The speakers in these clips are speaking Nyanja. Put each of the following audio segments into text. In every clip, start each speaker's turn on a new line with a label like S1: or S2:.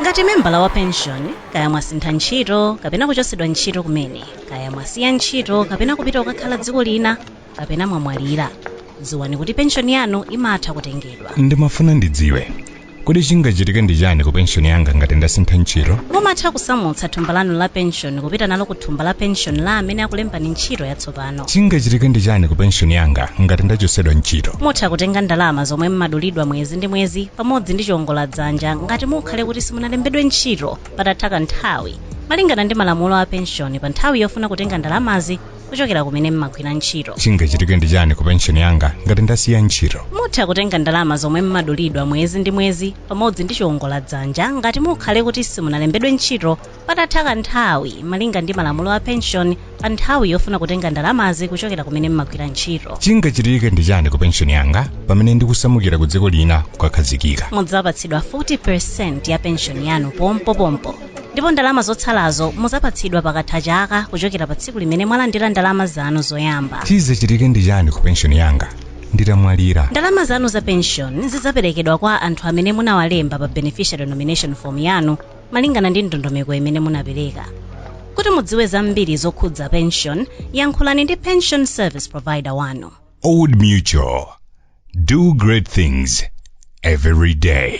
S1: ngati membala wa penshoni kaya mwasintha ntchito kapena kuchotsedwa ntchito kumene kaya mwasiya ntchito kapena kupita kukakhala dziko lina kapena mwamwalira dziwani kuti penshoni yanu imatha kutengedwa ndimafuna ndidziwe
S2: kodi chingachitike ndi chani ku penshoni yanga ngati ndasintha ntchito mumatha kusamutsa
S1: thumba lanu la penshoni kupita nalo ku thumba la penshoni la amene akulembani ntchito yatsopano pano chingachitike ndi chani ku
S2: penshoni yanga ngati ndachotsedwa ntchito mutha kutenga ndalama
S1: zomwe mmadulidwa mwezi ndi mwezi pamodzi ndi chiongola dzanja ngati mukhale kuti simunalembedwe ntchito patatha kanthawi malingana ndi malamulo a penshoni pa nthawi yofuna kutenga ndalamazi kuchokera kumene mmagwira ntchito chingachitike ndi chani ku
S2: penshoni yanga ngati ndasiya ntchito mutha kutenga ndalama
S1: zomwe mmadulidwa mwezi ndi mwezi pamodzi ndi chiongola dzanja ngati mukhale kuti simunalembedwe ntchito patatha kanthawi malinga ndi malamulo a pension pa nthawi yofuna kutenga ndalamazi kuchokera kumene mmagwira ntchito chingachitike ndi chani
S2: ku penshoni yanga pamene ndikusamukira ku dziko lina kukakhazikika mudzapatsidwa
S1: 40% ya penshoni yanu pompopompo ndipo ndalama zotsalazo muzapatsidwa pakatha chaka kuchokera pa tsiku limene mwalandira ndalama zanu zoyamba chizachitike ndi chani
S2: ku penshoni yanga nditamwalira ndalama zanu za
S1: penshoni zidzaperekedwa kwa anthu amene munawalemba pa beneficiary nomination form yanu malingana ndi ndondomeko imene munapereka kuti mudziwe zambiri zokhudza pension yankhulani ndi pension service provider wanu Old Mutual.
S2: Do great things every day.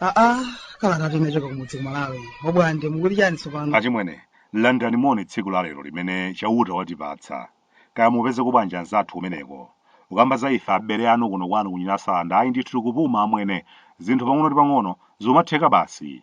S3: aa kalata yochoka kumudzi ku malawi obwande mukuti chani tsopano achimwene
S4: landani moni tsiku la lero limene chauta watipatsa kaya mupezako bwanji anzathu kumeneko ukamba za ife abale anu kuno kwanu kunyinasanda ayi ndithu tikupuma amwene zinthu pang'ono ndi pang'ono zomatheka basi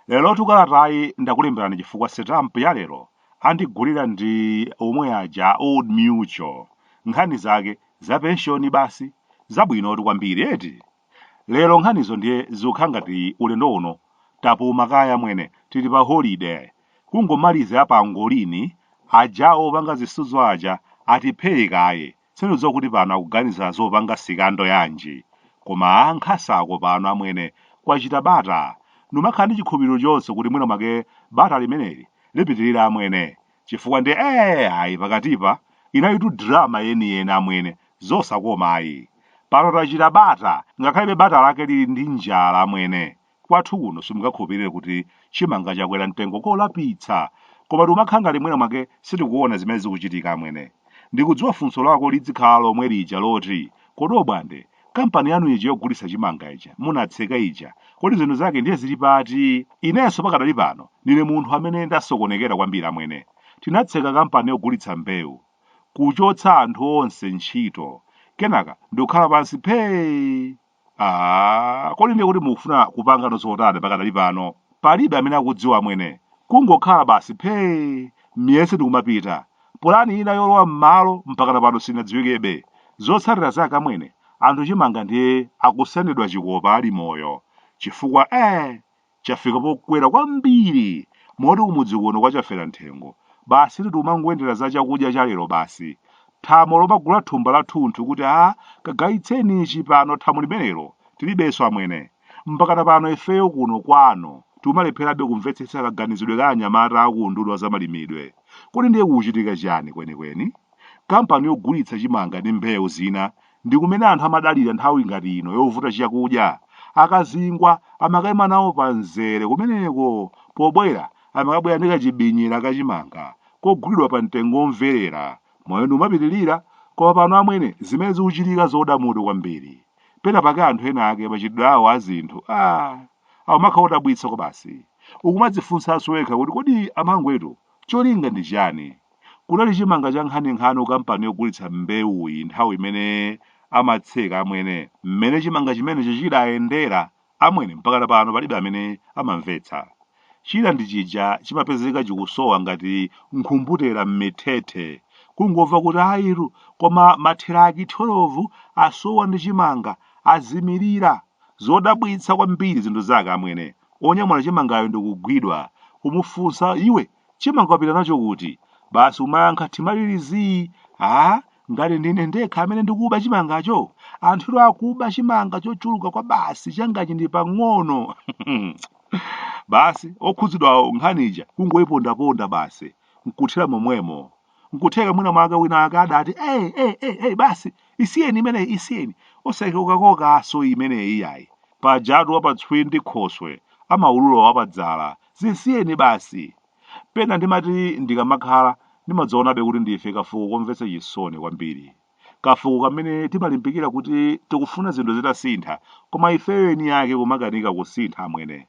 S4: Lerotu kalatayi ndakulemberani chifukwa sitamp ya lero andigulira ndi omwe aja a Old Mutual. Nkhani zake za penshoni basi? Zabwinotu kwambiri eti? Lero nkhanizo ndiye zikukhala ngati ulendo uno tapuma kaye amwene, tili pa holide. Kungomaliza ya pangolini, ajawo opanga zisudzo aja atiphee kaye, Sindidziwa kuti pano akuganiza zopanga sikando yanji, koma a Nkhasa ako pano amwene, kwachita bata. Numakhala ndi chikhulupiriro chonse kuti mwina mwake bata limeneli lipitirira amwene. Chifukwa ndiye ee ayi pakatipa inalitu drama yeniyeni amwene, zosakoma ayi. Pano tachita bata, ngakhalebe bata lake lili ndi njala amwene. Kwathu kuno simungakhulupirire kuti chimanga chakwera mtengo kolapitsa! Koma tikumakhala ngati mwina mwake sitikuona zimene zikuchitika amwene. Ndikudziwa funso lako lidzikhala lomwe lija loti, Kodi Obwande, kampani yanu ija yogulitsa chimanga ija munatseka ija, kodi zinthu zake ndiye zili pati? Inenso pakadali pano ndine munthu amene ndasokonekera kwambiri amwene. Tinatseka kampani yogulitsa mbewu, kuchotsa anthu onse ntchito, kenaka ndikukhala pansi phee! Ah, kodi ndiye kuti mukufuna kupanga no zotani pakadali pano palibe amene akudziwa amwene kungokhala basi phee miyezi ndikumapita polani ina yolowa m'malo mpakana pano sinadziwikebe zotsatira zake amwene anthu chimanga ndiye akusendedwa chikopa ali moyo chifukwa eh chafika pokwera kwambiri moti kumudzi kuno kwa Chaferanthengo basitu tikumangoyendera za chakudya cha lero basi. Thamo lomagula thumba lathunthu kuti a kagayitseni ichi pano thamo limenelo tilibenso amwene. Mpakana pano ifeyo kuno kwano tikumalepherabe kumvetsetsa kaganizidwe ka anyamata a ku unduna wa zamalimidwe. Kodi ndiye kukuchitika chiyani kwenikweni? Kampani yogulitsa chimanga ndi mbewu zina ndi kumene anthu amadalira nthawi ngati ino yovuta chakudya. Akazingwa amakaima nawo pamzere kumeneko. Pobwera, amakabwera ndi kachibinyira ka chimanga kogulidwa pa mtengo omverera. Moyo ndi kumapitirira, koma pano amwene zimene zikuchitika zodwalitsa mutu kwambiri. Pena pake anthu ena ake machitidwe awo a zinthu, ah, akumakhala odabwitsa kwabasi. Ukumadzifunsanso wekha kuti kodi amangwetu cholinga ndi chiyani? Kunali chimanga cha nkhaninkhani ku kampani yogulitsa mbewuyi nthawi imene amatseka amwene. Mmene chimanga chimenecho chidayendera amwene mpakana pano palibe amene amamvetsa. China ndi chija chimapezeka chikusowa ngati nkhumbutera mmithethe. Kungomva kuti ayitu koma matheraki 12 asowa ndi chimanga, azimirira. Zodabwitsa kwambiri zinthu zake amwene. Onyamula chimangawo ndikugwidwa, kumufunsa iwe! Chimanga wapita nacho kuti? Basi kumayankha thimalilizii! Aaa! Ngati ndine ndekha amene ndikuba chimangacho? Anthutu akuba chimanga chochuluka kwabasi changachi ndi pang'ono! Basi okhudzidwawo nkhani ija kungoipondaponda basi, n'kuthera momwemo. N'kutheka mwinamwake winawake adati, Ei, ei, ei, ei, basi! Isiyeni imeneyi, isiyeni! Osaikokakokanso imeneyi iyayi! Pajatu wapatswi ndi khoswe amaulula wapadzala Zisiyeni basi. Pena ndimati ndikamakhala, ndimadzaonabe kuti ndife kafuko komvetsa chisoni kwambiri. Kafuko kamene timalimbikira kuti tikufuna zinthu zitasintha, koma ifeyo eni ake kumakanika kusintha amwene.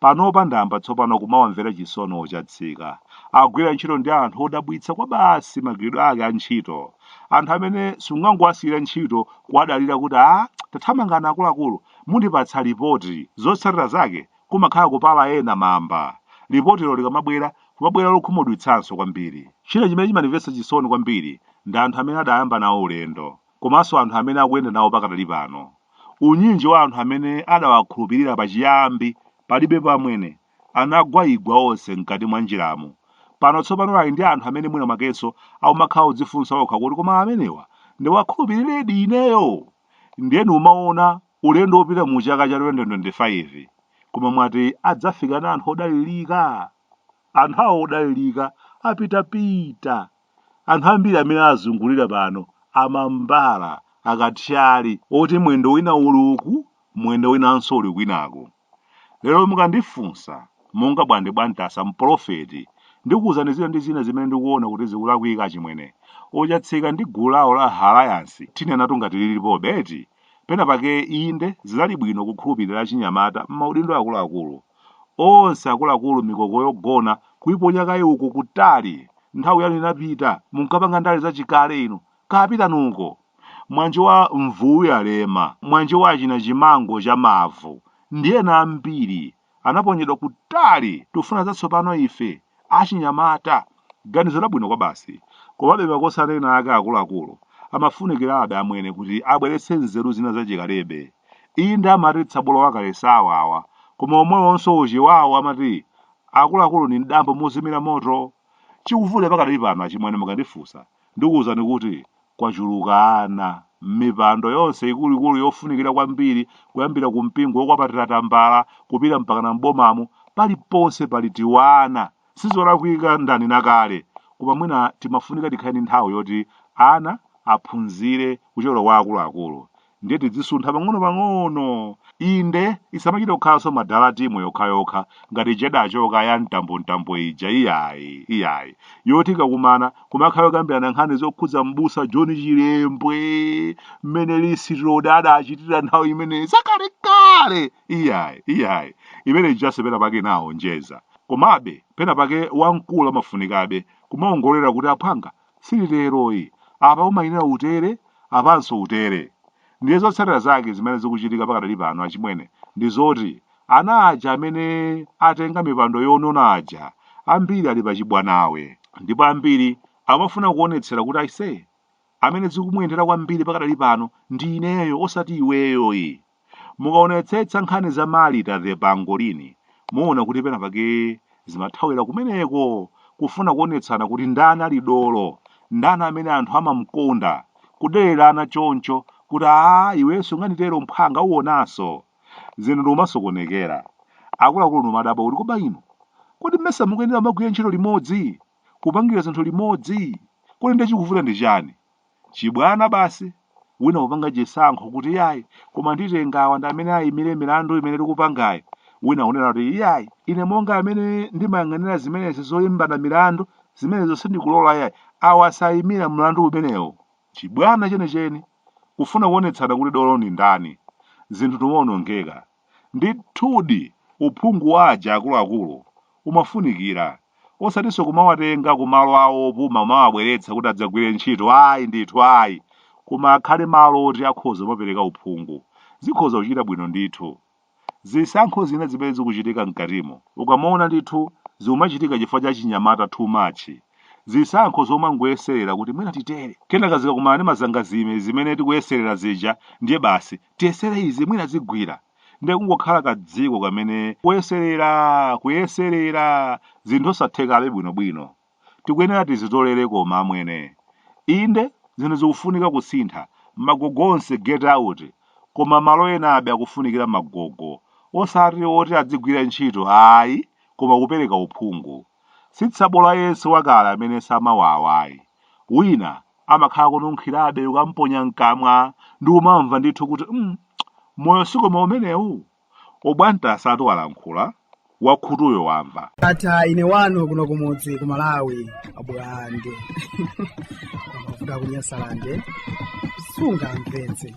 S4: Panopa ndayamba tsopano kumawamvera chisoni oChatsika. Akugwira ntchito ndi anthu odabwitsa kwabasi magwiridwe ake a ntchito. Anthu amene sungangowasiyira ntchito kuwadalira kuti ah, tathamangani akuluakulu, mundipatsa lipoti, zotsatira zake kumakhala kupala ena mamba. Lipotilo likamabwera, kumabwera lokhumudwitsanso kwambiri. China chimene chimandimvetsa chisoni kwambiri ndi anthu amene adayamba nawo ulendo komanso anthu amene akuyenda nawo pakadali pano. Unyinji wa anthu amene adawakhulupirira pachiyambi, palibepo amwene, anagwaigwa onse m'kati mwa njiramu. Pano tsopano ali ndi anthu amene mwina mwakenso akumakhala akudzifunsa okha kuti koma amenewa ndiwakhulupiriredi ineyo? Ndiye ndikumawona Ulendo wopita mu chaka cha 2025 koma mwati adzafika ndi anthu odalilika? Anthu awo odalilika apita pita. Anthu ambiri amene awazungulira pano amambala, akathyali oti mwendo wina uli uku mwendo winanso uli kwinako. Lero mukandifunsa, monga Bwande Bwa Ntasa mpolofeti, ndikuuzani zina ndi zina zimene ndikuona kuti zikulakwika achimwene. O Chatsika ndi gulu lawo la Halayansi tinenatu ngati lilipobe eti? Pena pake inde zinali bwino kukhulupirira achinyamata mmaudindo akuluakulu. Onse akuluakulu mikoko yogona kuiponya kaye uko kutali! Nthawi yanu inapita munkapanga ndale zachikale inu Kaya pitani uko. Mwanje wa mvuwu yalema, mwanje wa achina chimango cha mavu, ndi ena ambiri, anaponyedwa kutali! Tikufuna zatsopano ife, achinyamata! Ganizo labwino kwabasi. Komabe makosana ena ake akuluakulu amafunikirabe amwene kuti abweretse nzeru zina zachikalebe. Inde amati tsabola wakale sawawa, koma omwewonso oChewawo amati akuluakulu ndi m'dambo mozimira moto. Chikuvuta pakadali pano achimwene mukandifunsa. Ndikuwuzani kuti kwachuluka ana m'mipando yonse ikuluikulu yofunikira kwambiri kuyambira ku mpingo wokwapatira tambala kupita mpakana m'bomamo, paliponse pali tiwana. Sizolakwika ndanena kale koma mwina timafunika tikhale ndi nthawi yoti ana aphunzire kuchokera kwa akuluakulu. ndiye tidzisuntha pang'onopang'ono inde isamachita kukhalanso madala timu yokhayokha ngati ija idachoka ya mtambomtambo ija iyayi iyayi yoti ikakumana kumakhala yokambirana nkhani zokhudza mbusa john chilembwe mmene lisirodi adachitira nthawi imeneyi zakalekale iyayi iyayi imene ijase pena pake inaonjeza komabe pena pake wamkulu amafunikabe kumaongolera kuti aphwanga silitero iyi apa umayenera utere apanso utere ndiye zotsatira zake zimene zikuchitika pakadali pano achimwene ndi zoti ana aja amene atenga mipando yonona aja ambiri ali pachibwanawe ndipo ambiri amafuna kuonetsera kuti aise amene zikumuyendera kwambiri pakadali pano ndi ineyo osati iweyo iyayi Mukaonetsetsa nkhani za Martha ndi Pangolini, muona kuti pena pake zimathawira kumeneko, kufuna kuonetsana kuti ndani ali dolo, ndani amene anthu amamkonda, kudererana choncho kuti aa iwenso unganditero mphwanga uonanso. Zinthu ndikumasokonekera. Akuluakulu ndikumadabwa kuti koma inu, kodi mesa mukuyenera kumagwira ntchito limodzi, kupangira zinthu limodzi? Kodi ndiye chikuvuta ndi chani? Chibwana basi, wina kupanga chisankho kuti iyayi koma nditenga awa ndi amene ayimire milandu imene tikupangayi, wina kunena kuti iyayi ine monga amene ndimayang'anira zimenezi zoimbana milandu zimenezo sindikulola iyayi awa sayimira mlandu umenewo. Chibwana chenicheni, kufuna kuonetsana kuti dolo ndi ndani. Zinthu ndikumaonongeka. Ndithudi, uphungu wa aja akuluakulu umafunikira, osatinso kumawatenga ku malo awo opuma kumawabweretsa kuti adzagwire ntchito, ayi ndithu ayi, koma akhale malo oti akhoza kumapereka uphungu. Zikhoza kuchita bwino ndithu. Zisankho zina zimene zikuchitika mkatimo, ukamaona ndithu zikumachitika chifukwa cha chinyamata too much, zisankho zomangoyeserera kuti mwina titere, kenaka zikakumana ndi mazangazime zimene tikuyeserera zija ndiye basi tiyesere izi mwina zigwira nde kungokhala kadziko kamene kuyeserera kuyeserera zinthu osathekabe bwinobwino tikuyenera tizitolere koma amwene inde zinthu zikufunika kusintha magogo onse get out koma malo enabe akufunikira magogo osati oti adzigwira ntchito ayi koma kupereka uphungu si tsabola yense wakale amene samawawa ayi wina amakhala kununkhirabe ukamponya mkamwa ndikumamva ndithu kuti mm, moyo si koma umenewu obwanta asatu walankhula wakhutuyo wamva ata ine wanu
S3: kuno kumudzi ku malawi a Blantyre ku Nyasaland sunga
S1: mpenzi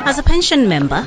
S1: As a pension member,